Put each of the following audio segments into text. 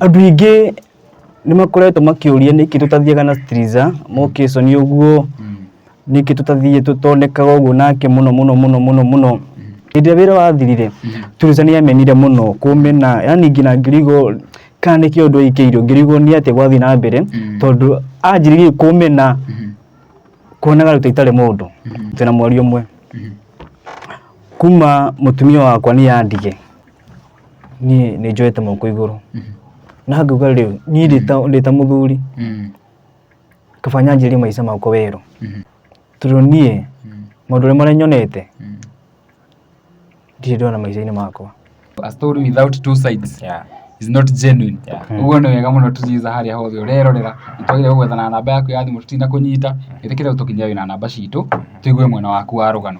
Andũ aingĩ nĩ makoretwo makĩũria nĩkĩ tũtathiaga na Striza mokĩconi ũguo nĩkĩ tũtathiĩ tũtonekaga ũguo nake mũno mũno mũno mũno mũno hĩndĩ ĩrĩa wĩra wathirire Striza nĩ amenire mũno kũmena yani nginya ngĩrigwo kana nĩkĩ ũndũ aingĩirwo ngĩrigwo nĩ atĩa gwathiĩ na mbere tondũ anjĩrĩirie kũmena kuonaga ta itarĩ mũndũ twĩna mweri ũmwe kuma mũtumia wakwa nĩ andige niĩ nĩ njoete moko igũrũ na ngauga rĩu niĩ ndĩ ta- ndĩ ta mũthuri Mm. kaba nyanjĩrie maica makwa werũ Mhm. tondũ niĩ Mm. maũndũ ũrĩa marĩa nyonete Mm. ndirĩ ndona maica-inĩ makwa A story without two sides Yeah. is not genuine Yeah. ũguo nĩ wega mũno tũciza harĩa hothe ũrerorera nĩtwagĩrĩire gwethana na namba yaku ya thimũ tũtina kũnyita ĩtĩkĩre ũtũkinyia wĩna namba citũ tũigue mwena waku wa rũgano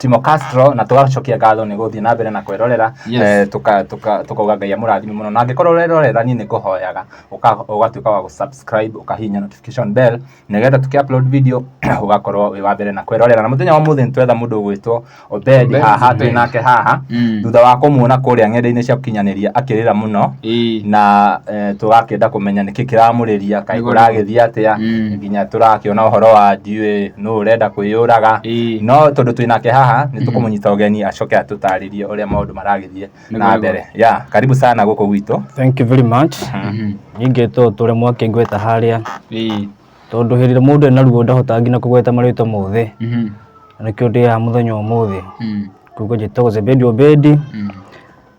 timo castro na tũgacokia ngatho nĩ gũthiĩ na mbere na kwĩrorera Yes. eh, tũka- tũka- tũkauga ngai amũrathime mũno na angĩkorwo ũrerorera niĩ nĩ ngũhoyaga ũka- ũgatuĩka wa gũsubscribe ũkahihinya notification bell nĩgetha tũkĩ upload video ũgakorwo wĩ wa mbere na kwĩrorera na mũthenya wa mũthĩ nĩtwetha mũndũ ũgwĩtwo obedi Obedi, haha twĩ Obedi. nake haha Mm. thutha wa kũmuona kũrĩa ng'enda-inĩ cia gũkinyanĩria akĩrĩra mũno Ĩĩ. na eh, tũgakĩenda kũmenya nĩkĩ kĩramũrĩria kaĩ Nĩguo, nĩguo. kũragĩthiĩ atĩa Mm. nginya tũrakĩona ũhoro wa ndiũĩ nũ ũrenda kwĩyũraga Ĩĩ. no tondũ twĩ nake haha nĩ tũkũmũnyita ũgeni acoke atũtarĩrie ũrĩa maũndũ maragĩthiĩ Nĩ na kwega. mbere ya karibu sana gũkũ gwitũ Thank you very much. Mhm. Ningĩ to tũrĩ mwake ngweta harĩa Ĩĩ. tondũ hĩndĩ ĩrĩa mũndũ ena ruo ndahotaga nginya kũgweta marĩtwa mothe Mhm. na nĩkĩo ndĩaha mũthenya ũmũthĩ Mm. kuga njĩtagwo Zebedi Obedi Mm.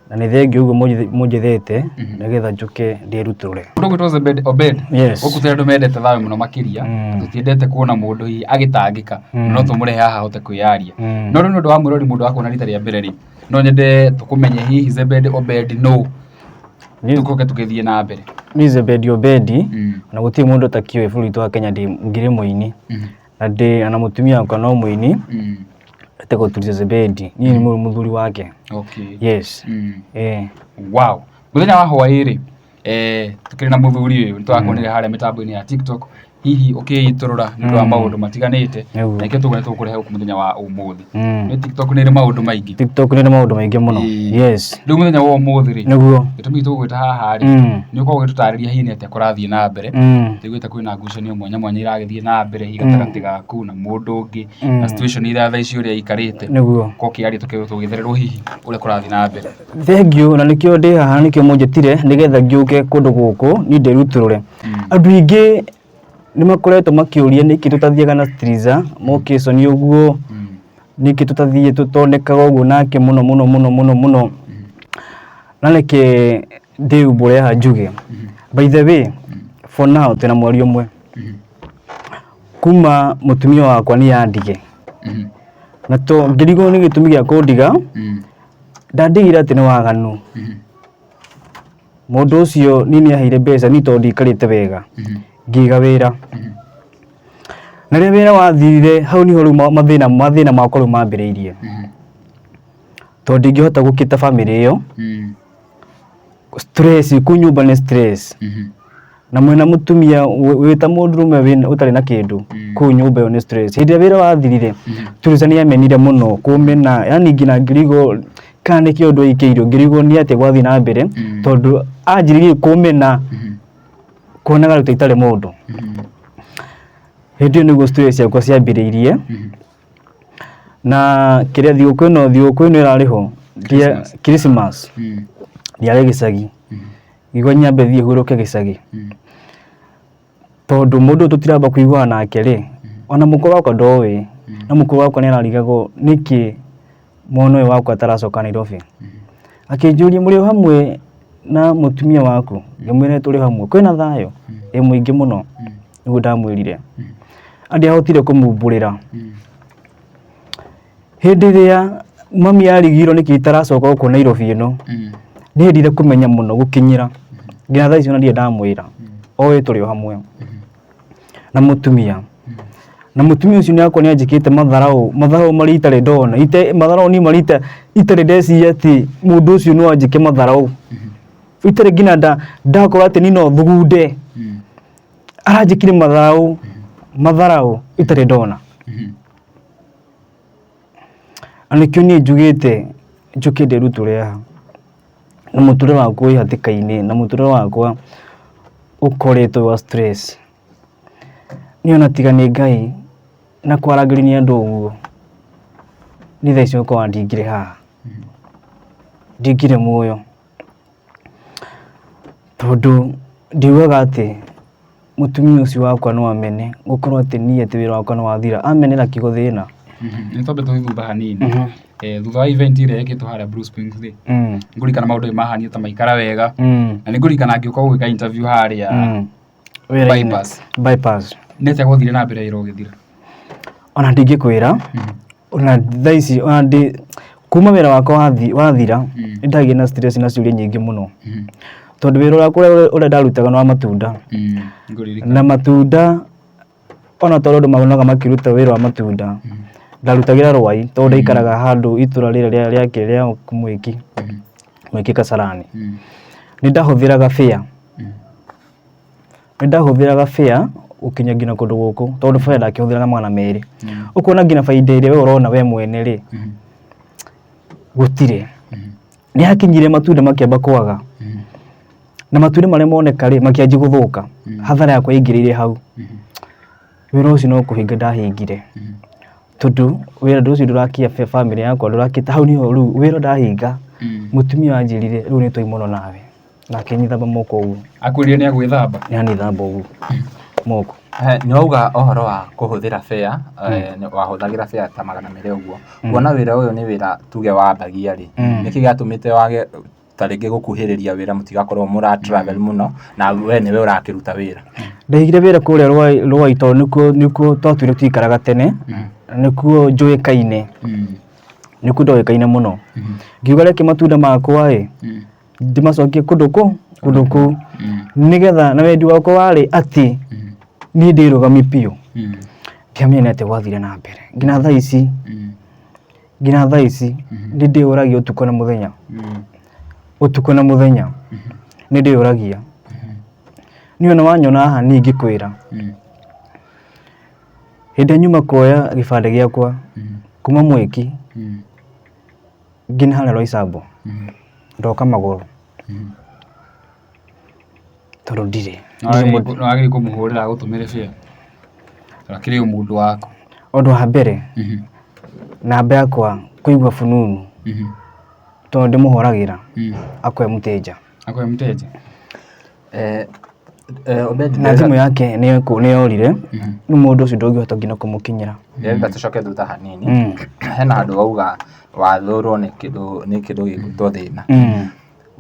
na nä thengiå guo må njethete nä getha njå ke ndä rutåre Kũndũ gwitũ Obed- Obed, Yes. gũkũ tũrĩ andũ mendete thayũ mũno makĩria Mm. tũtiendete kuona mũndũ hihi agĩtangĩka Mm. no tũmũrehe haha ahote kwĩyaria Mm. no rĩu nĩ ũndũ wa mwĩrori mũndũ wakuona rita rĩa mbere rĩ no nyende tũkũmenye hihi Zebed Obed nũ tũkoke tũgĩthiĩ na mbere nä zebendi obendi Mm. na gå tirä må ndå takiå bå rå witå wa kenya ndä- ngirä må ini Mhm. na ndĩ na mũtumia wakwa no mũini Mm. etagwo Tuliza Zebedi niĩ nĩ mũrũ mũthuri wake Okay. yes Mm. eh wow mũthenya wa hwaĩ rĩ eh, tũkĩrĩ na mũthuri ũyũ nĩ twakuonire harĩa mĩtambo-inĩ ya tiktok hihi ũkĩitũrũra nĩ ũndũ wa Mm. maũndũ matiganĩte Nĩguo. na ikĩo tũgũne tũkũrehe gũkũ mũthenya wa ũmũthĩ Mm. Nĩ tiktok nĩ ĩrĩ maũndũ maingĩ tiktok nĩ ĩrĩ maũndũ maingĩ mũno Ĩĩ. yes rĩu mũthenya wa ũmũthĩ rĩ nĩguo gĩtũmi tũgwĩta haha rĩ Mm. nĩ ũkorwo ũgĩtũtarĩria hihi nĩ atĩa kũrathiĩ na mbere Mm. tũiguĩte kwĩna ngucanio mwanya mwanya iragĩthiĩ na mbere hihi gatagatĩ gaku na mũndũ ũngĩ Mm. na situation ira thaa ici ũrĩa ikarĩte nĩguo ko kĩaria tũkĩrwo tũgĩthererwo hihi ũrĩa kũrathiĩ na mbere thengiũ na nĩkĩo ndĩ haha nĩkĩo mũnjĩtire nĩgetha ngĩũke kũndũ gũkũ niĩ ndĩrutũrũre andũ aingĩ nĩmakoretwo makĩũria nĩkĩ tũtathiaga na Striza Mokison ũguo nĩkĩ tũtathiĩ tũtonekaga ũguo nake mũno mũno mũno mũno mũno na reke ndĩumbũre haha njuge by the way for now twĩna mweri ũmwe kuma mũtumia wakwa nĩ yandige na to ngĩrigwo nĩ gĩtũmi gĩa kũndiga ndandigire atĩ nĩ waganu mũndũ ũcio niĩ nĩ aheire mbeca niĩ tondũ ndikarĩte wega ngĩiga wĩra na rĩrĩa wĩra wathirire hau niho rĩu ma- mathĩna mathĩna makwa rĩu mambĩrĩirie tondũ ndingĩhota gũkĩta bamĩrĩ ĩyo stress kũu nyũmba nĩ stress na mwĩna mũtumia wĩ- wĩ ta mũndũrũme wĩ- ũtarĩ na kĩndũ Mm. kũu nyũmba ĩyo nĩ stress hĩndĩ ĩrĩa wĩra wathirire Mm. Teresa nĩ amenire mũno kũmena yani nginya ngĩrigwo kana nĩ kĩũndũ aikĩirwo ngĩrigwo nĩ atĩa gwathiĩ na mbere Mm. tondũ anjĩrĩirie kũmena Mhm. kuonaga rĩu ta itarĩ mũndũ Mhm. hĩndĩ ĩyo nĩguo stress ciakwa ciambĩrĩirie Mhm. na kĩrĩa thigũkũ ĩno thigũkũ ĩno ĩrarĩ ho Christmas. Christmas Mm. ndiarĩ gĩcagi Mhm. igua nyambe thiĩ hurũke gĩcagi Mm. tondũ mũndũ tũtiramba kũiguana nake rĩ ona mũkũ wakwa ndoĩ Mm. na mũkũ wakwa nĩ ararigagwo nĩkĩ mwana ũyũ wakwa ataracoka Nairobi akĩnjũria mũrĩ o hamwe na mũtumia waku ngĩmwĩra tũrĩ hamwe kwĩna thayũ Mm. ĩ mũingĩ mũno Mm. nĩguo ndamwĩrire Mm. andĩ ahotire kũmumbũrĩra Mm. Hĩndĩ ĩrĩa mami arigirwo nĩkĩ itaracoka gũkũ Nairobi ĩno, Mm. nĩndire kũmenya mũno gũkinyĩra nginya thaa ici ona ndirĩ ndamwĩra oĩ tũrĩ o hamwe na mũtumia na mũtumia ũcio nĩakwa nĩanjĩkĩte matharaũ matharaũ marĩa itarĩ ndona ite matharaũ niĩ marĩa ita- itarĩ ndeciria atĩ mũndũ ũcio no anjĩke matharaũ itarĩ nginya nda- ndakorwo atĩ niĩ no thugunde Mm. aranjĩkire matharaũ matharaũ itarĩ ndona Mhm. na nĩkĩo niĩ njugĩte njũke ndĩrutũre haha na mũtũrĩre wakwa wĩ hatĩka-inĩ na mũtũrĩre wakwa ũkoretwo wa stress niĩ ona tiga nĩ ngai na kwarangĩri nĩ andũ ũguo nĩ thaa ici ũkorwa ndingire haha ndingire muoyo Tondũ ndiugaga atĩ mũtumia ũcio wakwa no amene gũkorwo atĩ niĩ atĩ wĩra wakwa nĩ wathira. Amenera kiugo thĩna. Nĩ twambe tũthithurie hanini. Thutha wa event ĩrĩa yekĩtwo harĩa Blue Springs rĩ, nĩ ngũririkana maũndũ nĩ mahanire ta maikara wega. Na nĩ ngũririkana ngĩũka gũgĩka interview harĩa Bypass. Bypass. Nĩ atĩa gwathire na mbere wĩra ũgĩthira? Ona ndingĩkwĩra. ona thaa ici ona ndĩ kuma wĩra wakwa wathi- wathira Mm. nĩ ndagĩa na stress na ciũria nyingĩ mũno Mm. tondũ wĩra wakwa ũrĩa- ũrĩa ndarutaga nĩ wa matunda Mm. Ngũririkana. na matunda ona tondũ andũ maonaga makĩruta wĩra wa matunda Mm. ndarutagĩra rwai tondũ ndaikaraga handũ itũra rĩrĩa rĩa- rĩake rĩa mwĩki Mm. mwĩki kasarani Mm. nĩ ndahũthĩraga bĩa Mm. nĩ ndahũthĩraga fare gũkinya nginya kũndũ gũkũ tondũ fare ndakĩhũthĩraga magana merĩ ũkona nginya bainda ĩrĩa we ũrona we mwene rĩ gũtirĩ nĩ hakinyire matunda makĩamba kwaga na matunda marĩa moneka rĩ makĩanjia gũthũka hathara yakwa yaingĩrĩire hau wĩra ũcio no kũhinga ndahingire tondũ wĩra ndũ ũcio ndũrakia fe- family yakwa ndũrakĩta hau niho rĩu wĩra ndahinga mũtumia wanjĩrire rĩu nĩ twaimono nawe nake nyithamba moko ũguo akwĩrire nĩ agwĩthamba nĩ anithamba ũguo moko Eh, nĩ wauga ũhoro wa kũhũthĩra bea eh, nĩ- wahũthagĩra bea ta magana merĩ ũguo kuona wĩra ũyũ nĩ wĩra tuge wambagia rĩ Mm. nĩkĩ gĩatũmĩte wage ta rĩngĩ gũkuhĩrĩria wĩra mũtigakorwo mũra travel mũno na we nĩwe ũrakĩruta wĩra ndaigire wĩra kũrĩa Rũai- rũai tondũ nĩkuo nĩkuo twatuire tũikaraga tene nĩkuo njũĩkaine nĩkuo ndoĩkaine mũno ngiuga reke matunda makwa ĩ ndĩmacokie kũndũ kũ kũndũ kũu nĩgetha na wendi wakwa warĩ atĩ niĩ ndĩrũgamie biũ ndiamenya nĩ atĩa gwathire na mbere nginya thaa ici nginya thaa ici nĩ ndĩyũragia ũtukũ na mũthenya ũtukũ na mũthenya nĩ ndĩyũragia niĩ ona wanyona haha niĩ ingĩkwĩra hĩndĩ ĩrĩa nyuma kuoya gĩbandĩ gĩakwa kuma mwĩki nginya Roy Sambu ndoka magũrũ tondũ ndirĩ nĩwagĩrĩirwo kũmũhũrĩra agũtũmĩre fare tondũ akĩrĩ o mũndũ waku ũndũ wa mbere namba yakwa kũigua fununu tondũ ndĩmũhũragĩra akue mũtĩnja. Akwĩ mteja. Eh, eh, Obedi, na thimũ yake nĩ ekũ- nĩ yorire rĩu mũndũ ũcio ndũngĩhota nginya kũmũkinyĩra ndĩrenda tũcoke thutha hanini Mm. hena handũ wauga wathũrwo nĩ kĩndũ nĩ kĩndũ gĩgwĩtwo thĩna Mm.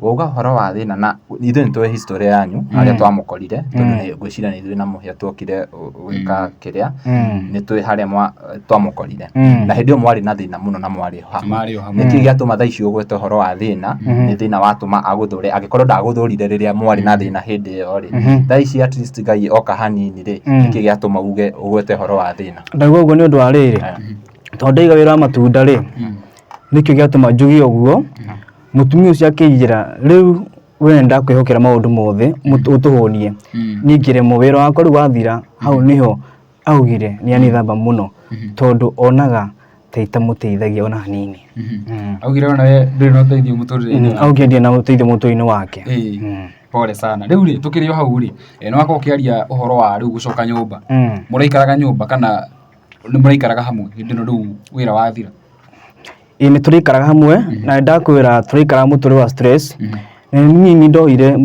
wauga ũhoro wa thĩna na ithuĩ nĩ tũĩ history yanyu harĩa twamũkorire tondũ nĩ- ngwĩciria nĩ ithuĩ na mũhĩa tuokire ũ- gwĩka kĩrĩa Mm. nĩ tũĩ harĩa mwa- eh, twamũkorire Mm. na hĩndĩ ĩyo mwarĩ na thĩna mũno na mwarĩ hamwe Marĩ o hamwe. nĩkĩ gĩatũma thaa ici ũgwete ũhoro wa thĩna Mhm. nĩ thĩna watũma agũthũre angĩkorwo ndagũthũrire rĩrĩa mwarĩ na thĩna hĩndĩ ĩyo rĩ Mhm. thaa ici at least ngai oka hanini rĩ Mm. nĩkĩ gĩatũma uge ũgwete ũhoro wa thĩna ndauga ũguo nĩ ũndũ wa rĩrĩ Eh. tondũ ndaiga wĩra wa matunda rĩ nĩkĩo gĩatũma njuge ũguo mũtumia ũcio akĩnjĩra rĩu we ndakwĩhokera maũndũ mothe mũtũ- ũtũhũnie Mm. ningĩ rĩmwe wĩra wakwa rĩu wathira hau nĩho Augire nĩ anithamba mũno tondũ onaga ta itamũteithagia ona hanini. Mm. augire ona we ndũrĩ na ũteithio mũtũrĩre-inĩ Mm, Augire ndirĩ na ũteithio mũtũrĩre-inĩ wake. Ĩĩ, Mm. pole sana rĩu rĩ tũkĩrĩ o hau rĩ eh, nĩ wakorwo ũkĩaria ũhoro wa rĩu gũcoka nyũmba Mm. mũraikaraga nyũmba kana nĩ mũraikaraga hamwe hĩndĩ ĩno rĩu wĩra wathira ĩ nĩ tũrĩikaraga hamwe na nĩ ndakwĩra tũrĩikaraga mũtũrĩ wa stress na nĩ niĩ ndoire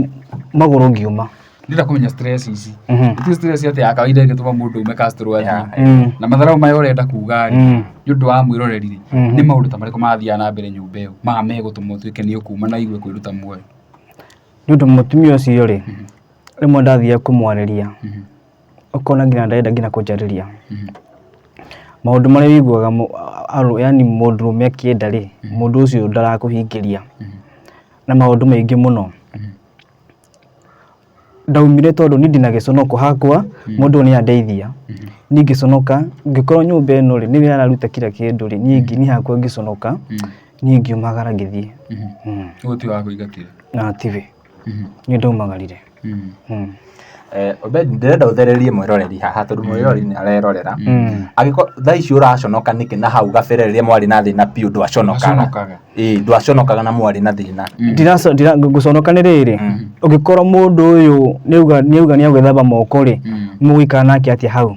magũrũ ngiuma ndĩra kũmenya stress ici Mhm. nĩtuĩ stress atĩ ya kawaida ĩgĩtũma mũndũ ume kastorũ athiĩ Mm. na matharau maya ũrenda kuga rĩ Mm. nĩ ũndũ wa mwĩroreri rĩ Mhm. nĩ maũndũ ta marĩkũ mathiaga na mbere nyũmba ĩyo maha megũtũma ũtuĩke nĩ ũkuma na igue kwĩruta muoyo nĩ ũndũ mũtumia ũcio rĩ rĩmwe ndathiaga kũmwarĩria Mhm. ũkona nginya ndarenda nginya kũnjarĩria maũndũ marĩa wĩiguaga mũ- arũ- yani mũndũrũme akĩenda rĩ mũndũ ũcio ndarakũhingĩria na maũndũ maingĩ mũno ndaumire tondũ niĩ ndina gĩconoko hakwa mũndũ ũyũ nĩ andeithia niĩ ngĩconoka ngĩkorwo nyũmba ĩno rĩ nĩwe araruta kira kĩndũ rĩ niĩ ngi- niĩ hakwa ngĩconoka niĩ ngiumagara ngĩthiĩ Mm. ũguo ti wa kũingatire na tibi nĩ ndaumagarire Mm. Mm. Eh, Obed ndĩrenda ũthererie mwĩroreri haha tondũ mwĩroreri nĩ arerorera Mm. angĩkorwo thaa ici ũraconoka nĩkĩ na hau gabere rĩrĩa mwarĩ na thĩna biũ ndwaconokaga Aconokaga. Ĩĩ, ndwaconokaga na mwarĩ na thĩna Ndiraco- ndira- ngũconoka nĩ rĩrĩ ũngĩkorwo mũndũ ũyũ nĩauga nĩauga nĩagwĩthamba moko rĩ mũgũikara nake atĩa hau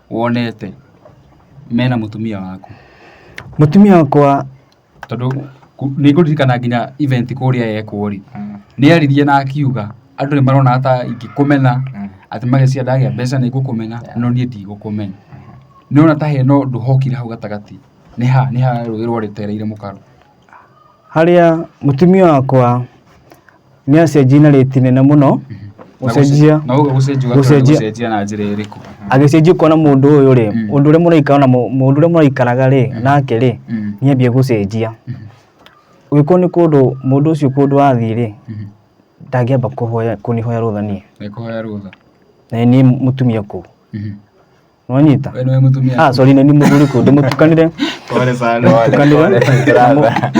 wonete mena mũtumia waku? Mũtumia wakwa tondũ nĩ ngũririkana nginya event kũrĩa yekwo rĩ, nĩ aririe na akiuga andũ nĩ marona ta ingĩkũmena atĩ magĩciria ndagĩa mbeca nĩ ngũkũmena no niĩ ndigũkũmena. Nĩ ũrona ta hena ũndũ hokire hau gatagatĩ, nĩ ha nĩ ha rũĩ rwatereire mũkaro. Harĩa mũtumia wakwa... nĩ acenjia na rĩti nene mũno gũcenjia na ũguo gũcenjia ũgakorwo nĩ Gũcenjia. gũcenjia na njĩra ĩrĩkũ agĩcenjia kuona mũndũ ũyũ rĩ Mm. ũndũ ũrĩa mũraikara na mũ- mũndũ ũrĩa mũraikaraga rĩ nake rĩ Mm. nĩambia gũcenjia ũgĩkorwo nĩ kũndũ mũndũ ũcio kũndũ athiĩ rĩ Mhm. ndangĩamba kũhoya kũnihoya rũtha niĩ nĩ kũhoya rũtha na niĩ mũtumia kũu Mhm. nonyita Wewe niwe mtumia. ah sorry nĩ mũthuri kũ ndĩmũtukanire Pole sana. Tukanire. Brother.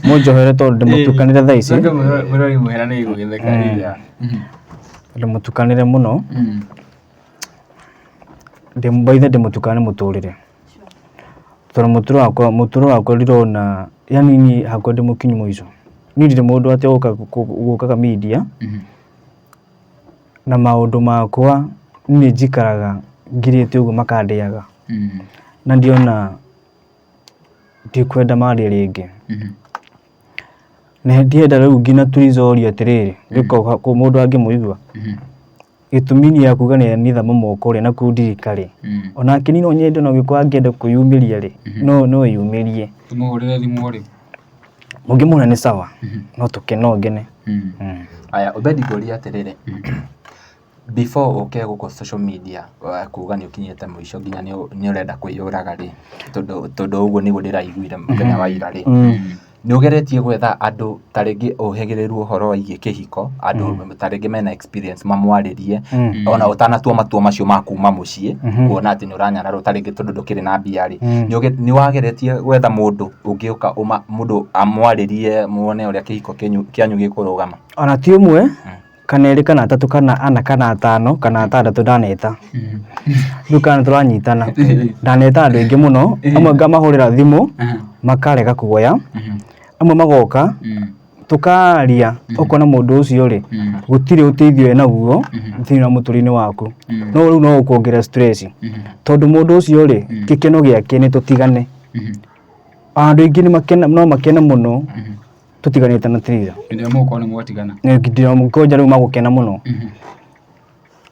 mũnjohere tondũ ndĩmũtukanire thaa ici Ndio mrori muhera ni gugitheka rĩrĩa. ndĩmũtukanire mũno Mm. ndĩmbaithe ndĩmũtukane mũtũrĩre tondũ mũtũro wakwa mũtũro wakwa ndirona yani niĩ hakwa ndĩmũkinyu mũico niĩ ndirĩ mũndũ atĩ ũka- kũ- gũkaga media Mhm. Na maũndũ makwa niĩ njikaraga ngirĩte ũguo makandĩaga mm. na ndiona ndikwenda marĩe rĩngĩ mm -hmm. na ndienda rĩu nginya tũicoria atĩrĩrĩ gĩko mm -hmm. mũndũ angĩmũigua mm -hmm gĩtũmi nĩ ya kuga nĩ amitha mamoko rĩ na kundirika rĩ mm. onake nino nyende no gĩkorwo angĩenda kwĩyumĩria rĩ mm-hmm. no no yumĩrie tũmũhũrĩre thimũ rĩ Ũngĩmwona nĩ sawa no tũke no ngene. Aya Obedi ngũria atĩrĩrĩ, before ũke gũkũ social media kuga nĩ ũkinyĩte mũico nginya nĩ ũrenda kwĩyũraga rĩ, tondũ ũguo nĩguo ndĩraiguire mũthenya wa ira rĩ, nĩ ũgeretie gwetha andũ ta rĩngĩ ũhĩgĩrĩrwo ũhoro wĩgiĩ kĩhiko, andũ ta rĩngĩ mena experience mamwarĩrie Mm. ona ũtanatua matua macio ma kuma mũciĩ Mhm. kuona atĩ nĩ ũranyararwo ta rĩngĩ tondũ ndũkĩrĩ na mbia rĩ Mm. nĩ ũge- nĩ wageretie gwetha mũndũ ũngĩũka ũma- mũndũ amwarĩrie muone ũrĩa kĩhiko kĩnyu- kĩanyu gĩkũrũgama ona ti ũmwe kana erĩ kana atatũ kana ana kana atano kana atandatũ ndaneta rĩu kana tũranyitana ndaneta andũ aingĩ mũno amwe ngamahũrĩra thimũ makarega kuoya amwe magoka tũkaria Mhm. ũkona mũndũ ũcio rĩ Mm. gũtirĩ ũteithio wĩ naguo Mhm. thĩinĩ wa mũtũrĩre waku Mm. no rĩu no ũkuongerera stress Mhm. tondũ mũndũ ũcio rĩ Mm. gĩkeno gĩake nĩ tũtigane Mhm. andũ aingĩ nĩ makena no makene mũno Mhm. tũtiganĩte na tira Hĩndĩ ĩrĩa mũgũkorwo nĩ mwatigana. nginya mũkonja rĩu magũkena mũno Mhm.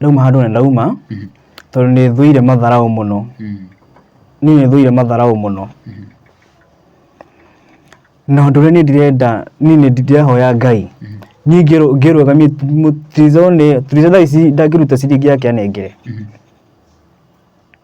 ndauma handũ na ndauma mhm. tondũ nĩ thũire matharaũ mũno mhm. niĩ nĩ thũire matharaũ mũno mhm. na ũndũ ũrĩa niĩ ndirenda niĩ nĩ ndĩrehoya ngai niĩ ngĩrũgamia tirizo nĩ tirizo thaa ici ndangĩruta ciringi yake anengere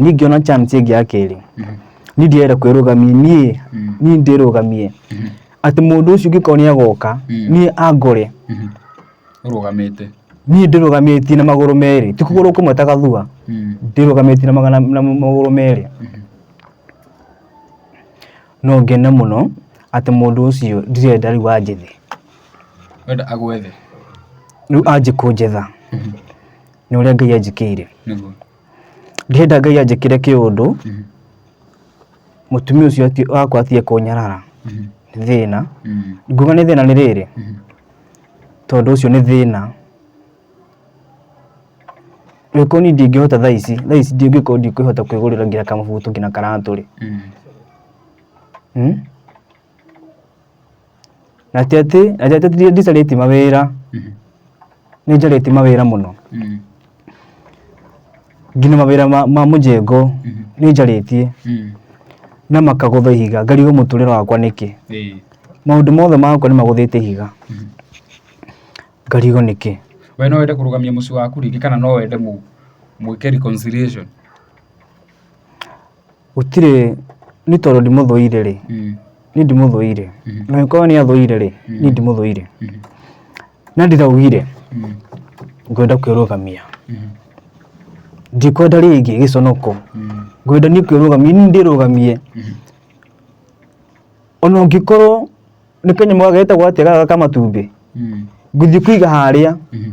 niĩ ngĩona chance ĩngĩ ya kerĩ niĩ ndirenda kwĩrũgamia niĩ niĩ ndĩrũgamie atĩ mũndũ ũcio ũngĩkorwo nĩ agoka niĩ angore ũrũgamĩte niĩ ndĩrũgamĩtie na magũrũ merĩ ti kũgũrũ kũmwe ta gathua ndĩrũgamĩtie na magana na magũrũ merĩ no ngene mũno atĩ mũndũ ũcio ndirenda rĩu anjethe wenda agwethe rĩu anjĩ kũnjetha nĩ ũrĩa ngai anjĩkĩire nĩguo Ndĩrenda Ngai anjĩkĩre kĩũndũ mũtumia ũcio ati- wakwa atige kũnyarara nĩ thĩna nguga nĩ thĩna nĩ rĩrĩ tondũ ũcio nĩ thĩna angĩkorwo niĩ ndingĩhota thaa ici thaa ici ndingĩkorwo ndikwĩhota kwĩgũrĩra nginya kamabutu nginya karatũ rĩ hmm? na ti atĩ na ti atĩ ndi- ndicarĩtie mawĩra Mhm. nĩ njarĩtie mawĩra mũno Mhm. nginya mawĩra ma, ma mũjengo Mhm. nĩ njarĩtie Mhm. na makagũtha ihiga ngarigwo mũtũrĩre wakwa nĩkĩ Ĩĩ. maũndũ mothe makwa nĩ magũthĩte ihiga Mhm. ngarigwo nĩkĩ we no wende kũrũgamia mũciĩ waku rĩngĩ kana no wende mũ- mwĩke reconciliation Gũtirĩ, niĩ tondũ ndimũthũire rĩ, Mm. niĩ ndimũthũire. Mhm. Na angĩkorwo nĩ athũire rĩ, niĩ Mhm. ndimũthũire. Mhm. Na ndiraugire Mm. ngwenda kwĩrũgamia. Mhm. Ndikwenda rĩngĩ gĩconoko. Mm. Ngwenda niĩ kwĩrũgamia, niĩ ndĩrũgamie. Mhm. Ona ũngĩkorwo nĩ kanyamũ gageta gwatega gaka matumbĩ, Mm. ngũthiĩ kũiga harĩa Mhm.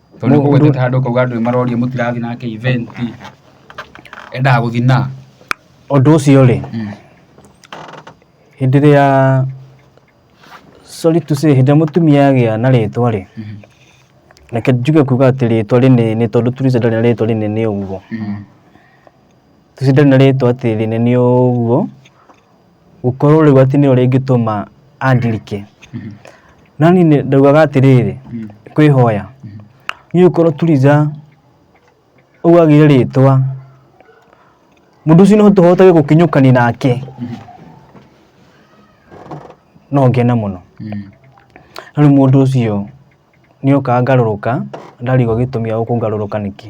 tondũ nĩ ũgũgĩtĩte handũ ũkauga andũ nĩ maroria mũtirathiĩ nake event endaga gũthiĩ na ũndũ ũcio rĩ hĩndĩ ĩrĩa sorry to say hĩndĩ ĩrĩa mũtumia agĩa na rĩtwa rĩ reke njuge kuga atĩ rĩtwa rĩnene tondũ Tuliza ndarĩ na rĩtwa rĩnene ũguo Tuliza ndarĩ na rĩtwa atĩ rĩnene ũguo gũkorwo rĩu atĩ nĩyo rĩngĩtũma andirike no niĩ nĩ- ndaugaga atĩrĩrĩ kwĩhoya niĩ ũkorwo turiza ũguo agĩire rĩtwa mũndũ ũcio no tũhotage gũkinyũkani nake no ngene mũno na rĩu mũndũ ũcio nĩokaga ngarũrũka, ndarigwo gĩtũmi gĩa gũka ngarũrũka nĩkĩ.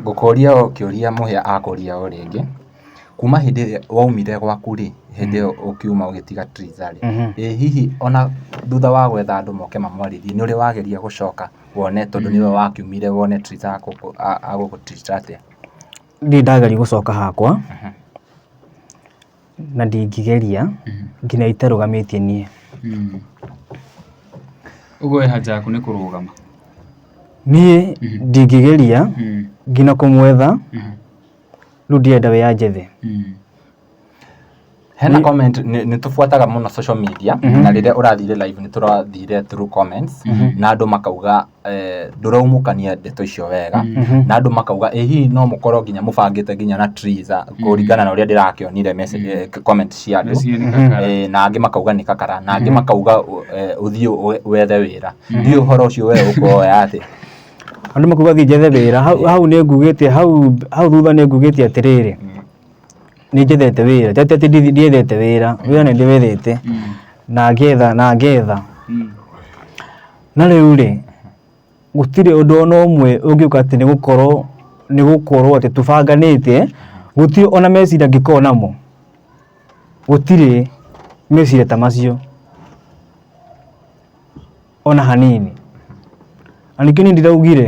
Ngũkũria o kĩũria mũhĩa akũria o rĩngĩ, kuma hĩndĩ ĩrĩa waumire gwaku rĩ, hĩndĩ ĩyo ũkiuma ũgĩtiga Triza rĩ, ĩ hihi ona thutha wa gwetha andũ moke mamwarĩrie, nĩũrĩ wageria gũcoka wone tondũ nĩwe wakiumire wone Triza agũgũ treat atĩa? Ndirĩ ndageria gũcoka hakwa. na ndingĩgeria nginya itarũgamĩtie niĩ. Ũguo we haja yaku nĩ kũrũgama? Niĩ ndingĩgeria nginya kũmwetha, rĩu ndirenda we anjethe. Hena comment nĩ tũbuataga mũno social media na rĩrĩa ũrathire live nĩ tũrathire through comments na andũ makauga eh, ndũraumũkania ndeto icio wega na andũ makauga ĩ hihi no mũkorwo nginya mũbangĩte nginya na triza kũringana na ũrĩa ndĩrakĩonire message- eh, comment cia andũ Message nĩ kakara. Eh, na angĩ makauga nĩ kakara na angĩ makauga ũ- eh, ũthiĩ ũ- wethe wĩra ndiũ ũhoro ũcio we ũkuoya atĩ andå makuga thiä njethe wä ra hau hau nä ngugä hau hau thutha nä ngugä te atä rä rä nä njethete wä ra tete atä ndiethete wä ra wä ra nä ndä wethete na ngetha na ngetha Mm. Na rĩu rĩ, gũtirĩ ũndũ ona ũmwe ũngĩũka atĩ nĩ gũkorwo nĩ gũkorwo atĩ tũbanganĩte, gũtirĩ ona meciria ngĩkorwo namo, gũtirĩ meciria ta macio ona hanini. Na ningĩ niĩ ndiraugire.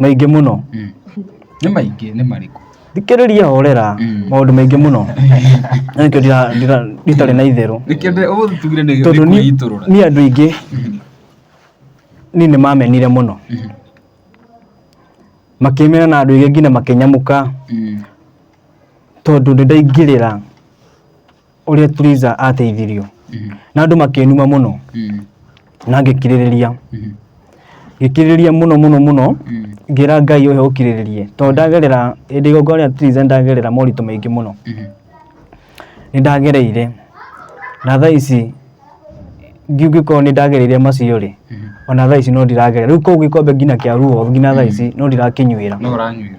maingĩ mũno Mm. nĩ maingĩ nĩ marĩkũ thikĩrĩria horera Mm. maũndũ maingĩ mũno Na nĩkĩo ndira- ndira- nditarĩ na itherũ rĩkĩende ũmũthĩ tugire nĩ tondũ ni- kwĩitũrũra niĩ andũ aingĩ niĩ nĩ mamenire mũno makĩmena na andũ aingĩ nginya makĩnyamũka tondũ nĩ ndaingĩrĩra ũrĩa Turiza ateithirio Mhm. na andũ makĩnuma mũno Mhm. na ngĩkirĩrĩria Mhm. ngĩkirĩrĩria mũno mũno mũno Mhm. ngĩra ngai ũhe ũkirĩrĩrie tondũ ndagerera hĩndĩ igongona rĩa Turiza ndagerera moritũ maingĩ mũno Mhm. nĩ ndagereire na thaa ici ngĩkorwo nĩ ndagereire macio rĩ Mhm. ona thaa ici no ndiragerera rĩu koguo gĩkombe nginya kĩa ruo nginya thaa ici no ndirakĩnyuĩra No ũranyuĩra.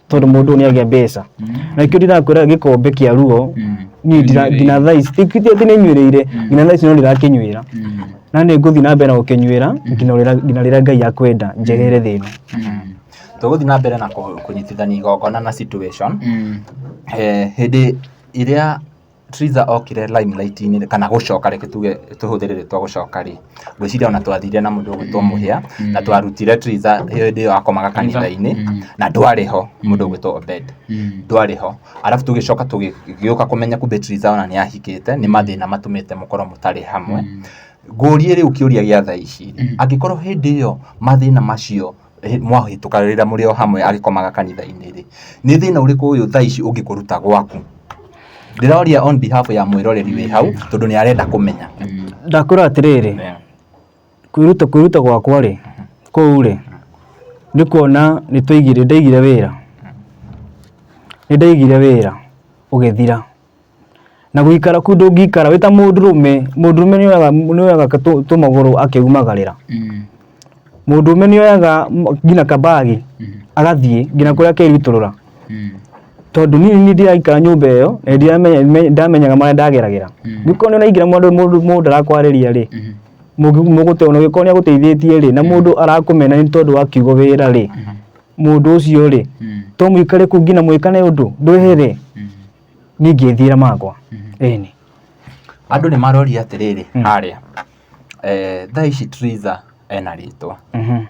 tondå må ndå nä agä a mbeca na kä ndirakwä gĩkombe kĩa ruo niĩ ndira- nginya thaa ici ti ti atĩ nä nyuä rä ire nginya thaa ici no ndä rakä nyuä ra na nä ngå thiä na mbere na gå kä nyuä ra nginya rĩrĩa- nginya rä rä a ngai akwenda njerere thä ĩno tũgũthiĩ na mbere na kũ- kũnyitithania igongona na situation Eh, hĩndĩ ĩrĩa Triza okire limelight-inĩ kana gũcoka reke tuge tũhũthĩre rĩtwa gũcoka rĩ, ngwĩciria ona twathire na mũndũ ũgwĩtwo Mũhĩa na twarutire Triza hĩndĩ ĩyo akomaga kanitha-inĩ na ndwarĩ ho mũndũ ũgwĩtwo Obed ndwarĩ ho. Arabu tũgĩcoka tũgĩũka kũmenya kumbe Triza ona nĩahikĩte, nĩ mathĩna matũmĩte mũkorwo mũtarĩ hamwe. Ngũrie rĩu kĩũria gĩa thaa ici, angĩkorwo hĩndĩ ĩyo mathĩna macio mwahĩtũka rĩrĩa mũrĩ o hamwe agĩkomaga kanitha-inĩ rĩ, nĩ thĩna ũrĩkũ ũyũ thaa ici ũngĩkũruta gwaku? Ndĩroria on behalf ya mwĩroreri wĩ hau tondũ nĩ arenda kũmenya. Ndakwĩra atĩrĩrĩ, kwĩruta kwĩruta gwakwa rĩ, kũu rĩ, nĩ kuona nĩ twaigire ndaigire wĩra, nĩ ndaigire wĩra ũgĩthira. na gũikara kuu ndũngĩikara wĩ ta mũndũrũme mũndũrũme nĩ oyaga nĩ oyaga tũ- tũmagũrũ akĩumagarĩra Mm. mũndũrũme nĩ oyaga m- nginya kabagi Mhm. agathiĩ nginya kũrĩa akerutũrũra Mm. tondũ niĩ nĩ ndĩraikara nyũmba ĩyo na nĩ ndĩramenya- me- ndamenyaga marĩa ndageragĩra Mm. nĩkorwo nĩ ũraingĩra mũndũ mũndũ mũndũ ndarakwarĩria rĩ Mhm. mũgũteona ũgĩkorwo nĩ agũteithĩtie rĩ na mũndũ arakũmena nĩ tondũ wa kiugo wĩra rĩ Mhm. mundu ucio ri mm. to mwikare ku ngina mwikane undu ndwihere mm. ni ngithira makwa eni andu ni marori atiriri haria eh thaa ici Triza ena ritwa mhm.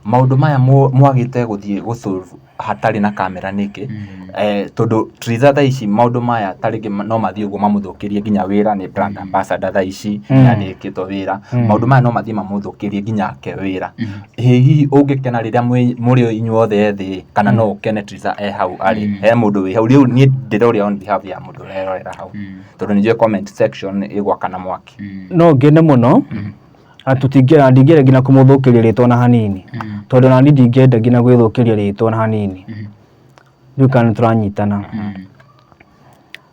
maundu maya mwagite guthie gusolve hatarĩ na kamera nĩkĩ mm-hmm. eh, tondũ Triza thaa ici maũndũ maya ta rĩngĩ no mathiĩ ũguo mamũthũkĩrie nginya wĩra nĩ brand mm-hmm. ambassador thaa ici mm-hmm. na nĩkĩtwo wĩra maũndũ maya no mathiĩ mamũthũkĩrie nginya ake wĩra Ĩ hihi ũngĩkena rĩrĩa mwĩ- mũrĩ inyuothe thĩ ĩ, kana no ũkene Teresa e hau arĩ Mm. he mũndũ wĩ hau rĩu niĩ ndĩroria on behalf ya mũndũ ũrerorera hau Mm. tondũ nĩnjũĩ comment section ĩgwakana mwaki Mm. no ngene mũno na tũtingĩenda ndingĩenda nginya kũmũthũkĩria rĩtwa na hanini Mm. tondũ na niĩ ndingĩenda nginya gwĩthũkĩria rĩtwa na hanini Mm. rĩu kana nĩ tũranyitana Mm.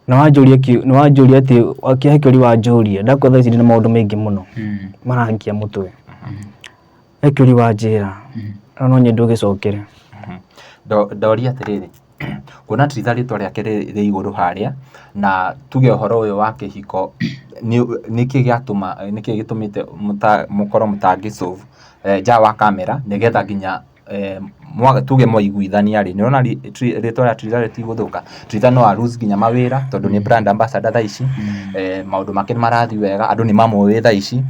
na wanjũria ki- na wanjũria atĩ kĩhe kĩũri wanjũria ndakwetha ici ndĩ na maũndũ maingĩ mũno Mm. marangia mũtwe Ekĩũri wa njĩra na no nyende ũgĩcokere. Ndoria atĩrĩrĩ, kuona ti itha rĩtwa rĩake rĩ igũrũ harĩa, na tuge ũhoro ũyũ wa kĩhiko nĩkĩ gĩatũma, nĩkĩ gĩtũmĩte mũkorwo mũtangĩ solve nja wa kamera nĩgetha nginya tuge mwaiguithania rĩ, nĩ ũrona rĩtwa rĩa Twiga rĩtigũthũka. Twiga no a lose nginya mawĩra tondũ nĩ brand ambassador thaa ici, maũndũ make nĩ marathiĩ wega, andũ nĩ mamũĩ thaa ici,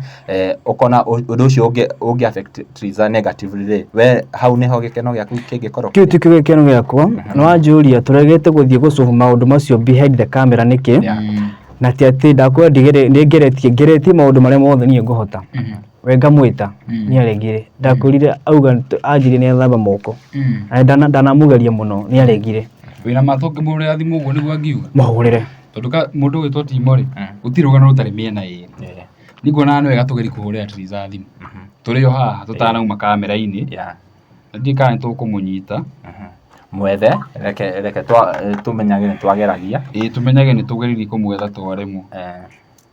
ũkona ũndũ ũcio ũngĩ affect Twiga negatively rĩ, we hau nĩ ho gĩkeno gĩaku kĩngĩkorwo? Kĩu ti kĩo gĩkeno gĩakwa, nĩ wanjũria tũregete gũthiĩ gũ solve maũndũ macio behind the camera nĩkĩ, na ti atĩ nĩ ngeretie, ngeretie maũndũ marĩa mothe niĩ ngũhota. we ngamwĩta Mm. nĩ aregire ndakwĩrire auga nĩ- anjĩrire nĩ athamba moko Mm. Na ndana- ndanamugeria mũno nĩ aregire wĩna matũ ngĩmũrĩa thimũ ũguo nĩguo angiuga mũhũrĩre tondũ ka mũndũ wĩtwo timo rĩ Mm. gũtirĩ rũgano rũtarĩ mĩena ĩrĩ Yeah. nĩkuonaga nĩ wega tũgeri kũhũrĩra tiriza thimũ Mhm. tũrĩ o haha tũtanauma kamera-inĩ Yeah. na ndiĩ kana nĩ tũkũmũnyita Mhm. mwethe reke reke twa- eh, tũmenyage nĩ twageragia ĩĩ tũmenyage nĩ tũgeririe kũmwetha twaremwo Eh,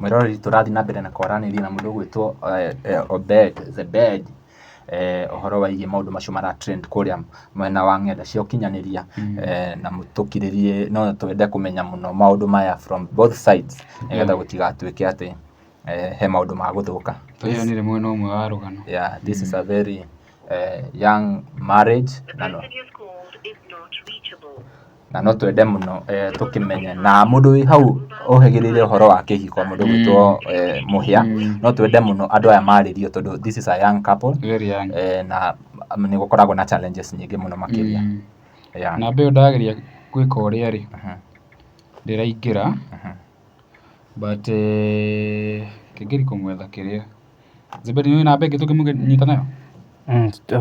Mwĩroreri tũrathiĩ na mbere na kwaranĩria na mũndũ ũgwĩtwo Obed Zebed, ũhoro wĩgiĩ maũndũ macio mara trend kũrĩa mwena wa ng'enda cia ũkinyanĩria, na mũtũkirĩrie no twende kũmenya mũno maũndũ maya from both sides nĩgetha gũtigatuĩke atĩ he maũndũ ma gũthũka. Tweyoneire mwena ũmwe wa rũgano. Yeah, this is a very young marriage. na no twende mũno tũkĩmenye, na mũndũ wĩ hau ũhĩgĩrĩire ũhoro wa kĩhiko mũndũ ũgwĩtwo Mũhĩa, no twende mũno andũ aya marĩrio tondũ this is a young couple na nĩ gũkoragwo na challenges nyingĩ mũno makĩria. Namba ĩyo ndageria gwĩka ũrĩa rĩ, ndĩraingĩra but kĩngĩri kũmwetha kĩrĩa. Zuberi nĩ ũĩ namba ĩngĩ tũngĩmũnyita nayo?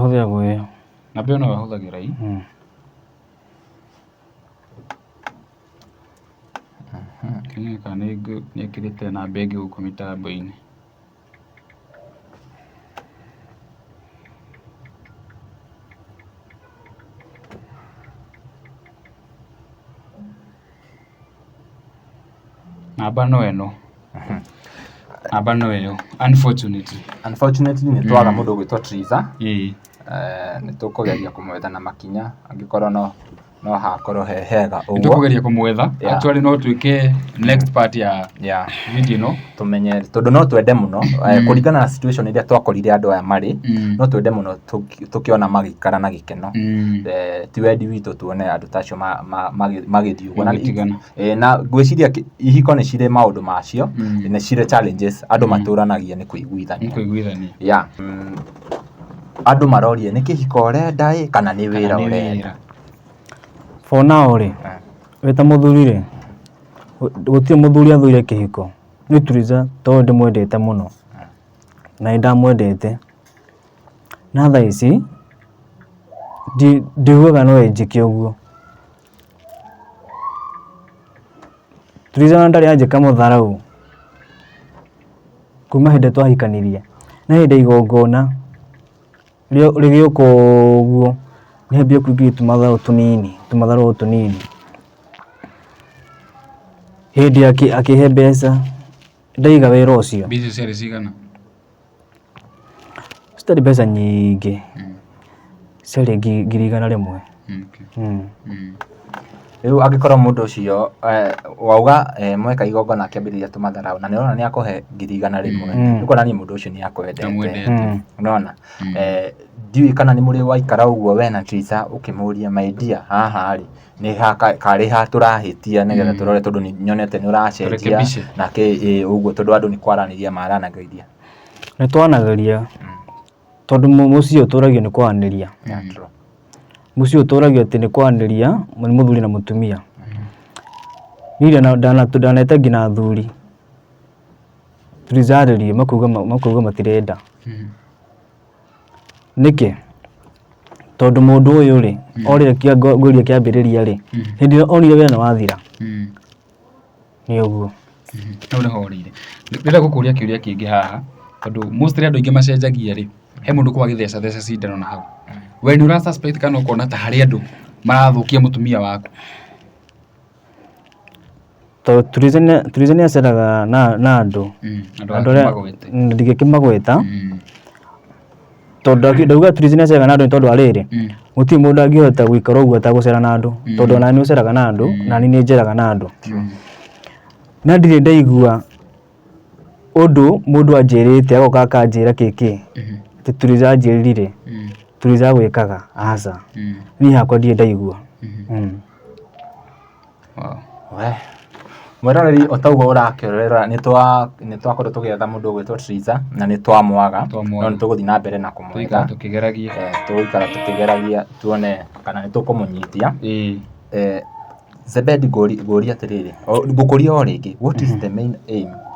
Hũthĩra ĩyo. Namba ĩyo noyo hũthagĩra. Kĩroneka nĩ ekĩrĩte namba ĩngĩ gũkũ mĩtambo-inĩ. Namba no ĩno. Namba no ĩyo. Unfortunately. Unfortunately nĩ twaga mũndũ ũgwĩtwo Triza. Ĩĩ. Nĩ tũkũgeria kũmwetha na makinya angĩkorwo no no hakorwo he hega ũguo. Nĩ tũkũgeria kũmwetha. Actually no twĩke next part ya video ĩno. tũmenye tondũ no twende mũno eh, Mm. kũringana na situation iria twakorire andũ aya marĩ Mm. no twende mũno tũki- tũkĩona magĩikara na gĩkeno Mm. Eh, ti wendi witũ tuone andũ ta acio ma- ma- magĩ- magĩthiĩ ũguo. Na- Magĩtigana. eh, na ngwĩciria ki- ihiko nĩ cirĩ maũndũ macio Mm. nĩ cirĩ challenges andũ Mm. matũranagia nĩ kũiguithania Nĩkũiguithania. ya mm, andũ marorie nĩ kĩhiko ũrenda ĩ kana nĩ wĩra Kana nĩ ũrenda for now rĩ Eh. wĩta mũthuri rĩ gũtirĩ mũthuri athũire kĩhiko niĩ Turiza tondũ ndĩmwendete mũno na nĩ ndamwendete na thaa ici ndi- ndiugaga no enjĩke ũguo Turiza ona ndarĩ anjĩka mũtharau kuma hĩndĩ twahikanirie na hĩndĩ ya igongona Rĩo rĩgĩũka ũguo, rĩambia kũingĩria tũmatharũ tũnini, tũmatharũ o tũnini. Hĩndĩ akĩ akĩhe mbeca, ndaiga wĩra ũcio. Mbeca icio ciarĩ cigana? Citarĩ mbeca nyingĩ, ciarĩ ngi ngiri igana rĩmwe. Rĩu angĩkorwo mũndũ ũcio wauga mweka igongona akĩambĩrĩria tũmatharaũ na nĩ ũrona nĩ akũhe ngiri igana rĩmwe nĩ kuonania mũndũ ũcio nĩ akwendete. Nĩwona? Ndiũĩ kana nĩ mũrĩgũikara ũguo we na Tritha ũkĩmũria my dear haha rĩ, nĩ ha karĩ ha tũrahĩtia nĩgetha tũrore tondũ nĩ nyonete nĩ ũracenjia na kĩ ĩ ũguo tondũ andũ nĩ kwaranĩria maranagĩria. Nĩ twaranagĩria tondũ mũciĩ ũtũragio nĩ kwaranĩria. Mũciĩ ũtũragio atĩ nĩ kwanĩria nĩ mũthuri na mũtumia. Niĩ ndanete nginya athuri tũtijarĩrie makauga matirenda. Nĩkĩ? Tondũ mũndũ ũyũ rĩ, orĩkia ngũĩria kĩambĩrĩria rĩ, hĩndĩ ĩrĩa onire wĩra nĩ wathira, nĩ ũguo. Hau nĩho ũrĩire. Ndĩrenda gũkũria kĩũria kĩngĩ haha, tondũ mostly andũ aingĩ macenjagia rĩ, he mũndũ ũkoragwo agĩtheca theca cindano na hau. We nĩ ũra suspect kana ũkona ta harĩ andũ marathũkia mũtumia waku? To turizania turizania aceraga na na andũ. Mm, Andũ andũ arĩa arĩa- magwĩte. ndingĩkĩmagweta, Mm. tondũ ndaki- ndauga treasonous ega na andũ nĩ tondũ wa rĩrĩ Mm. gũtirĩ mũndũ angĩhota gũikara ũguo atagũcera na andũ tondũ ona nĩ ũceraga na andũ na nĩ njeraga na andũ na ndirĩ ndaigua ũndũ mũndũ anjĩrĩte agoka akanjĩra kĩkĩ Mhm. atĩ turiza anjĩrire Mm. turiza gwĩkaga aca Mm. niĩ hakwa ndirĩ ndaigua Mhm. Mm. Wee, mwĩroreri o ta ũguo ũrakĩrorera nĩ twa nĩ twakorwo tũgĩetha mũndũ ũgwĩtwo Triza na nĩ twamwaga no Twamwaga. nĩ tũgũthiĩ na mbere na kũmwetha tũikara tũkĩgeragia Eh, tũgũikara tũkĩgeragia tuone kana nĩ tũkũmũnyitia ĩĩ Eh, Zebedi ngũri- ngũria atĩrĩrĩ o- ngũkũria o rĩngĩ what is the main aim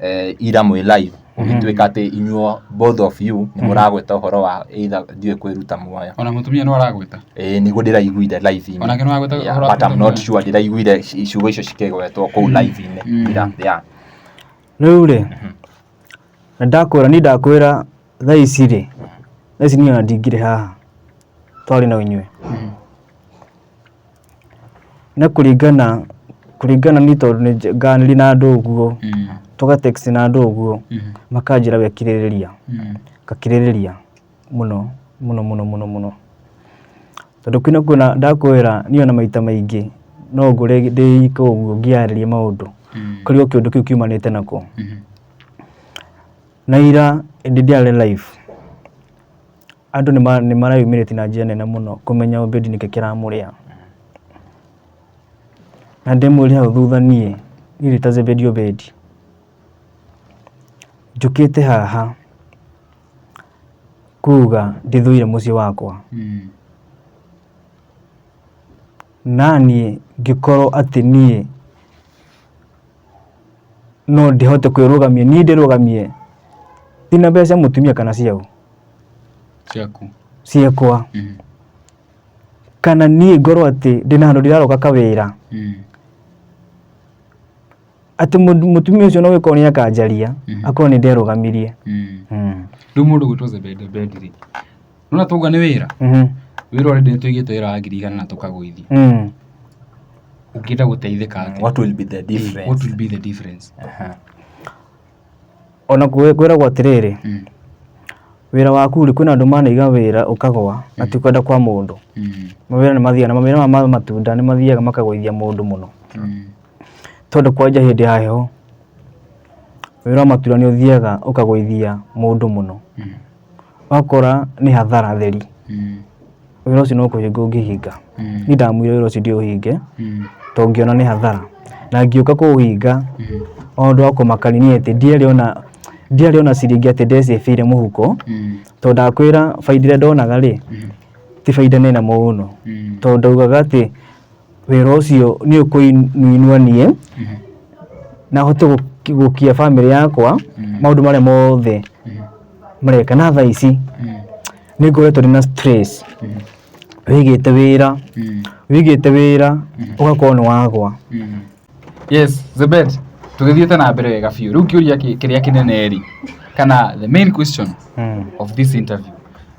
eh, ira mwĩ live ũgĩtuĩka atĩ inyuo both of you nĩ mũragweta ũhoro wa either ndiũĩ kwĩruta muoyo ona mũtumia no aragwĩta Eh, nĩguo ndĩraiguire live-inĩ Onake no agwĩta Yeah, ũhoro wa but I'm kũruta not muoyo. sure ndĩraiguire ci- ciugo icio cikĩgwetwo kũu live-inĩ Mm. ira yeah. rĩu rĩ na ndakwĩra ni ndakwĩra thaa ici rĩ thaa ici niĩ ona ndingirĩ haha twarĩ na inyuĩ Nĩ kũringana, kũringana niĩ tondũ nĩ nganĩri na andũ ũguo, tũga text na andũ ũguo, makanjĩra we kirĩrĩria, ngakirĩrĩria mũno mũno mũno mũno mũno. Tondũ kwĩna kwĩna ndakwĩra niĩ ona maita maingĩ no ngore ndĩ ika ũguo ngĩyarĩria maũndũ, korirwo kĩũndũ kĩu kiumanĩte na kũ. Na ira hĩndĩ ndiarĩ live. Andũ nĩ mareyumĩrĩtie na njĩra nene mũno kũmenya Obedi nĩkĩ kĩramũrĩa. Na ndĩmwĩre hau thutha niĩ, niĩ ndĩta Zebedi Obedi, njũkĩte haha kuga ndĩthũire mũciĩ wakwa na niĩ ngĩkorwo atĩ niĩ no ndihote kwĩrũgamia niĩ ndĩrũgamie ina mbeca cia mũtumia kana ciau ciaku ciekwa Mm, kana niĩ ngorwo atĩ ndĩna handũ ndĩraroka kawĩra mm, atĩ mũndũ- mũtumia ũcio no wĩkorwo nĩ akanjaria Mhm. akorwo nĩ nderũgamirie mm. Mm. rĩu mũndũ gwĩtwo zebedebedi rĩ nona twauga nĩ wĩra Mhm. wĩra already nĩ tũigĩte wĩra wa ngiri igana na tũkagũithia Mm. ũngĩenda gũteithĩka atĩa? What will be the difference? what will be the difference Aha. ona kwĩ- kwĩragwo atĩrĩrĩ Mm, wĩra waku rĩ kwĩna andũ manaiga wĩra ũkagwa na ti kwenda kwa mũndũ mm, mawĩra nĩ mathiaga na mawĩra ma ma matunda nĩ mathiaga makagũithia mũndũ mũno mm, tondũ kwanja hĩndĩ ya heho wĩra wa matunda nĩ ũthiaga ũkagũithia mũndũ mũno mm, Wakora nĩ hathara theri, wĩra ũcio no kũhinga ũngĩhinga. Niĩ ndamwĩra wĩra ũcio ndiũhinge tondũ ngĩona nĩ hathara. Na ngĩũka kũũhinga ona ũndũ wa kũmakania nĩ atĩ ndiarĩ ona, ndiarĩ ona ciringi atĩ nde save ire mũhuko, tondũ ndakwĩra bainda ĩrĩa ndonaga rĩ, ti bainda nene mũno. Tondũ ndaugaga atĩ... wĩra ũcio nĩ ũkũinua niĩ na hote gũki- gũkia bamĩrĩ yakwa maũndũ marĩa mothe mareka na thaa ici nĩ ngoretwo ndĩ na stress wĩigĩte wĩra wĩigĩte wĩra ũgakorwo nĩ wagwa yes zebet tũgĩthiĩte na mbere wega biũ rĩu kĩũria kĩ- kĩrĩa kĩnene rĩ kana the main question of this interview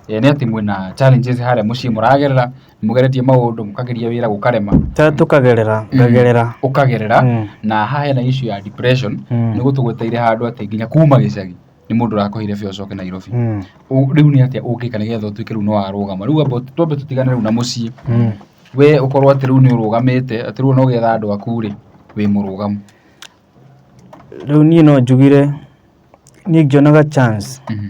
eh, nĩ atĩ mwĩna challenges harĩa mũciĩ mũragerera mũgeretie maũndũ mũkageria wĩra gũkarema Ta tũkagerera ngagerera ũkagerera Mm. na haha hena issue ya depression Mm. nĩ gũtũgweteire handũ atĩ nginya kuma gĩcagi nĩ mũndũ ũrakũhire biũ ũcoke Nairobi Mm. Ũ- rĩu nĩ atĩa ũngĩka nĩgetha ũtuĩke rĩu no warũgama rĩu amba twambe tũtigane rĩu na mũciĩ Mm. we ũkorwo atĩ rĩu nĩ ũrũgamĩte atĩ rĩu no getha andũ aku rĩ wĩ mũrũgamu rĩu niĩ no njugire niĩ ngĩonaga chance Mhm.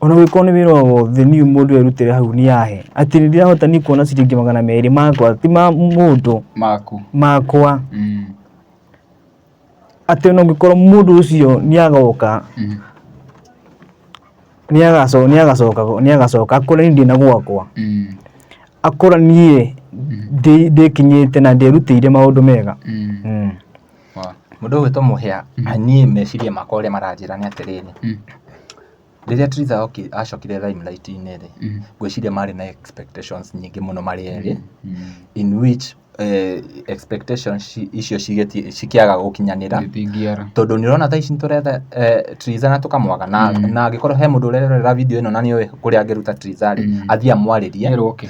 Ona ũngĩkorwo nĩ wĩra o wothe niũ mũndũ erutĩra hau nĩ ahe. Atĩ nĩ ndĩrahota niĩ kuona ciringi magana merĩ makwa ti ma mũndũ. Maku. Makwa. Mm. Atĩ ona ũngĩkorwo mũndũ ũcio nĩ agoka mm. nĩ agacoka nĩ agacoka nĩ agacoka akore niĩ ndĩ na gwakwa. Mm. Akora niĩ mm. ndĩkinyĩte na ndĩrutĩire maũndũ mega. Mm. Mm. Mũndũ ũyũ wĩtwa mũhĩa, niĩ meciria makwa ũrĩa maranjĩra nĩ atĩrĩrĩ, rĩrĩa Trither acokire Limelight inĩ rĩ, ngwĩciria marĩ na expectations nyingĩ mũno marĩ erĩ, in which expectations icio cikĩaga gũkinyanĩra, tondũ nĩ ũrona thaa ici nĩ tũretha Trither na tũkamwaga, na angĩkorwo he mũndũ ũrerorera video ĩno na nĩ ũĩ kũrĩa angĩruta Trither rĩ, athiĩ amwarĩrie,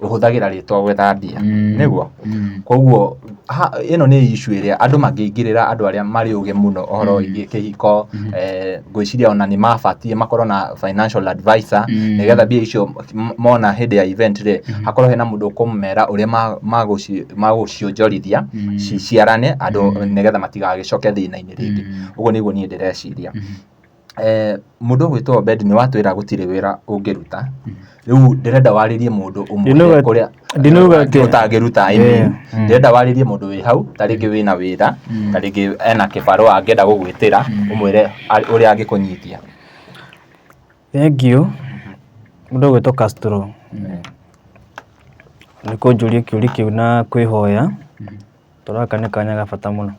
ũhũthagĩra rĩtwa gwetha mbia Mm. nĩguo Mm. koguo ha- ĩno nĩ issue ĩrĩa andũ mangĩingĩrĩra andũ arĩa marĩ ũgĩ mũno ũhoro wĩgiĩ kĩhiko eh, ngwĩciria ona nĩ mabatie makorwo na financial advisor Mm. nĩgetha mbia icio m- mona hĩndĩ ya event rĩ hakorwo hena mũndũ ũkũmera ũrĩa ma- magũci- magũcionjorithia Mm. ci- ciarane andũ nĩgetha matigagĩcoke thĩna-inĩ rĩngĩ Mm. ũguo nĩguo niĩ ndĩreciria Mũndũ ũgwĩtwo Obedi nĩ watwĩra gũtirĩ wĩra ũngĩruta, rĩu ndĩrenda warĩrie mũndũ ũmũĩre kũrĩa ũtangĩruta I mean ndĩrenda warĩrie mũndũ wĩ hau, ta rĩngĩ wĩna wĩra, ta rĩngĩ ena kĩbarũa angĩenda gũgwĩtĩra, ũmwĩre ũrĩa angĩkũnyita. Thengiũ, mũndũ ũgwĩtwo Castro nĩ kũnjũria kĩũria kĩu na kwĩhoya tondũ gaka nĩ kanya ga bata mũno.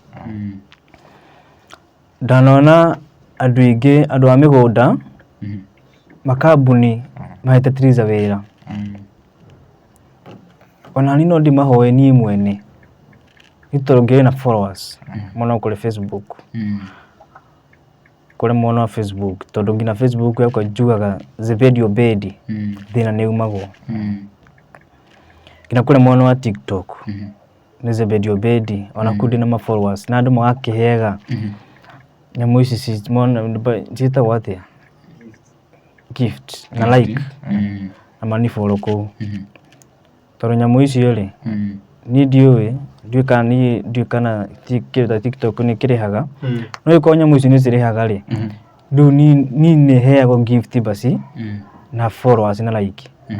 Ndanona andũ aingĩ, andũ a mĩgũnda, makambuni mahete Tiriza wĩra. Ona niĩ no ndĩmahoe niĩ mwene, nĩ tondũ ngĩrĩ na followers mũno kũrĩ Facebook, kũrĩ mwena wa Facebook, tondũ nginya Facebook yakwa njugaga Zebedi Obedi, thĩna nĩ aumagwo. Nginya kũrĩ mwena wa TikTok. nĩ Zebedi Obedi ona kũu ndĩ na ma followers na andũ magakĩhega nyamũ ici ci- mona- mba- ciĩtagwo atĩa gift na like Mm. na maniboro kũu Mhm. tondũ nyamũ icio rĩ Mm. niĩ ndiũĩ ndiũĩ kana niĩ ndiũĩ kana ti- kĩndũ ta tiktok nĩ kĩrĩhaga Mm. no ĩkorwo nyamũ icio nĩ cirĩhaga rĩ Mhm. rĩu niĩ- niĩ nĩ heagwo gift basi Mm. na followers na like Mhm.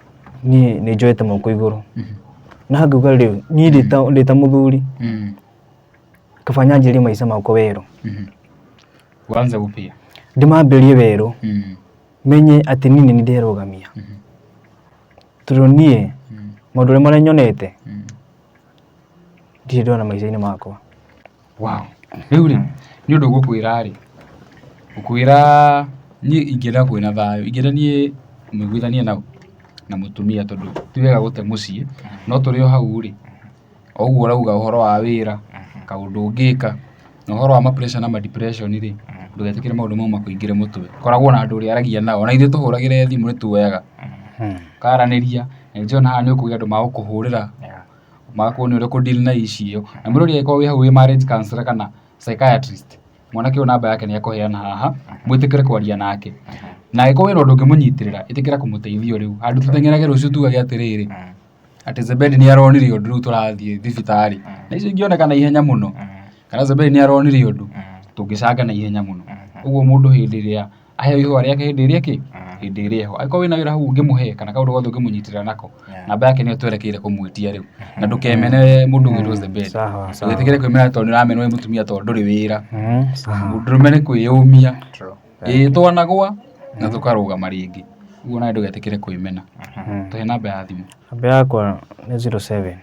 niĩ nĩ njoete moko igũrũ na ngauga rĩu niĩ ndĩ ta- ndĩ ta mũthuri Mm. kaba nyanjĩrie maica makwa werũ Mhm. Uanze upya. ndĩmambĩrie werũ Mm. menye atĩ niĩ nĩ ndĩrũgamia Mhm. tondũ niĩ Mm. maũndũ ũrĩa marĩa nyonete Mm. ndirĩ ndona maica-inĩ makwa Wow. Rĩu rĩ, nĩ ũndũ ngũkwĩra rĩ, ngũkwĩra niĩ ingĩenda kwĩ na thayũ, ingĩenda niĩ nĩngũithanie na ũ? na mũtumia tondũ ti wega gũte mũciĩ, no tũrĩ o hau rĩ, o ũguo ũrauga ũhoro wa wĩra, kaũndũ ũngĩka, na ũhoro wa ma pressure na ma depression rĩ, ndũgetĩkĩre maũndũ mau makũingĩre mũtwe. Koragwo na andũ ũrĩaragia nao, ona ithuĩ tũhũragĩre thimũ nĩ tuoyaga, mũkaranĩria, na nĩ ndĩrona haha nĩ ũkũgĩa andũ magũkũhũrĩra. magakorwo nĩ ũrĩ kũ deal na issue ĩyo. Na mũndũ ũrĩa ũngĩkorwo wĩ hau wĩ marriage counsellor kana psychiatrist, mwanake ũyũ namba yake nĩ ekũheana haha, mwĩtĩkĩre kwaria nake. Na angĩkorwo wĩna ũndũ ũngĩmũnyitĩrĩra, ĩtĩkĩra kũmũteithia ũrĩ hau. Handũ tũteng'erage rũciũ tuuge atĩrĩrĩ, atĩ Zebedi nĩ aronire ũndũ rĩu tũrathiĩ thibitarĩ. Na icio ingĩoneka naihenya mũno, kana Zebedi nĩ aronire ũndũ, tũngĩcanga naihenya mũno. Ũguo mũndũ hĩndĩ ĩrĩa... aheo ihũa rĩake hĩndĩ ĩrĩa kĩ hĩndĩ ĩrĩa ho angĩkorwo wĩna wĩra hau ũngĩmũhe kana kaũndũ gothe ũngĩmũnyitĩrĩra nako Yeah. namba yake nĩyo twerekeire kũmwĩtia rĩu na ndũkemene mũndũ ũngĩ rose the bed Sawa, sawa. ndũgĩtigĩre kwĩmena tondũ nĩramenwo nĩ mũtumia tondũ ndũrĩ wĩra Mm, sawa. ndũrũme nĩ kwĩyũmia True. ĩĩ twanagwa na tũkarũgama rĩngĩ ũguo nawe ndũgetĩkĩre kwĩmena Mm. tũhe namba ya thimũ namba yakwa nĩ 07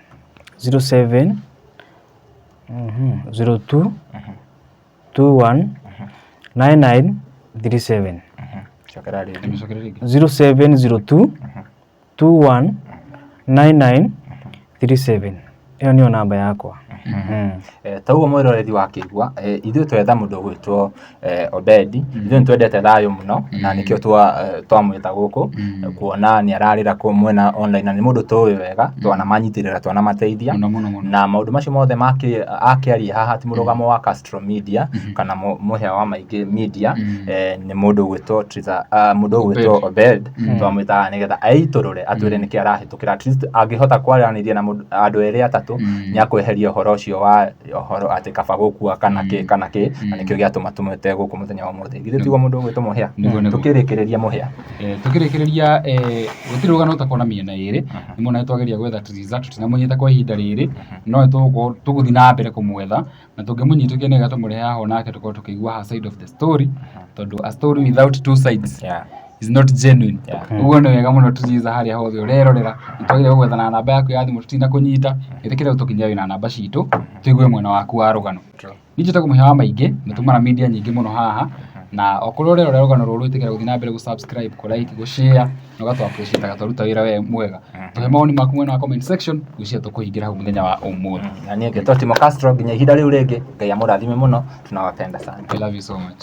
07 mhm, 02 219937 cokera rĩngĩ Tumĩcokere rĩngĩ. 0702 219937 ĩyo nĩyo namba yakwa Mm. Eh, ta ũguo mwĩroreri wakĩigua eh, ithuĩ twetha mũndũ ũgwĩtwo eh, obedi ithuĩ nĩ twendete thayũ mũno na nĩkĩo twa- eh, twamwĩta gũkũ kuona nĩ ararĩra kũ mwena online na nĩ mũndũ tũĩ we wega twana manyitĩrĩra twana mateithia Mũno, mũno, mũno. na maũndũ macio mothe makĩ- akĩaria haha ti mũrũgamo wa Castro Media kana mũ- mũhĩa wa maingĩ media eh, nĩ mũndũ ũgwĩtwo Triza- ah, mũndũ ũgwĩtwo Obed twamwĩtaga nĩgetha aitũrũre atwĩre nĩkĩ arahĩtũkĩra at least angĩhota kwaranĩria na mũndũ- andũ erĩ atatũ nĩ akweheria ũhoro ũcio wa ũhoro atĩ kaba gũkua kana kĩ kana kĩ na nĩkĩo gĩatũma tũmwĩte gũkũ mũthenya wa ũmũthĩ githĩ tiguo mũndũ ũgwĩtwo mũhĩa Nĩguo, nĩguo. tũkĩrĩkĩrĩria mũhĩa Eh, tũkĩrĩkĩrĩria eh, gũtirĩ rũgano ũtakorwo na mĩena ĩrĩ nĩ mwona nĩtwageria gwetha Triza tũtinamũnyita kwa ihinda rĩrĩ no nĩtũgũkorwo- tũgũthiĩ na mbere kũmwetha na tũngĩmũnyita ũkĩone wega tũmũrehe haha onake tũkorwo tũkĩigua her side of the story tondũ a story without two sides Yeah. is not genuine Yeah. ũguo nĩ wega mũno Triza harĩa hothe ũrerorera nĩtwagĩrĩirwo gwetha na namba yaku ya thimũ tũtinakũnyita ĩtĩkĩre ũtũkinyia wĩna namba citũ tũigue mwena waku wa rũgano Niĩ njĩtagwo mũhĩa wa maingĩ, nĩ tũmara media nyingĩ mũno haha, na okorwo ũrerorera rũgano rũrũ ĩtĩkĩra gũthiĩ na mbere gũ subscribe, kũ like, gũ share, na ũgatũ appreciate aga twaruta wĩra we mwega. Tũhe mawoni maku mwena wa comment section, ngwĩciria tũkũhingĩra hau mũthenya wa ũmũthĩ. Na niĩ ngetwo Timo Castro nginya ihinda rĩu rĩngĩ, Ngai amũrathime mũno, tunawapenda sana. I love you so much.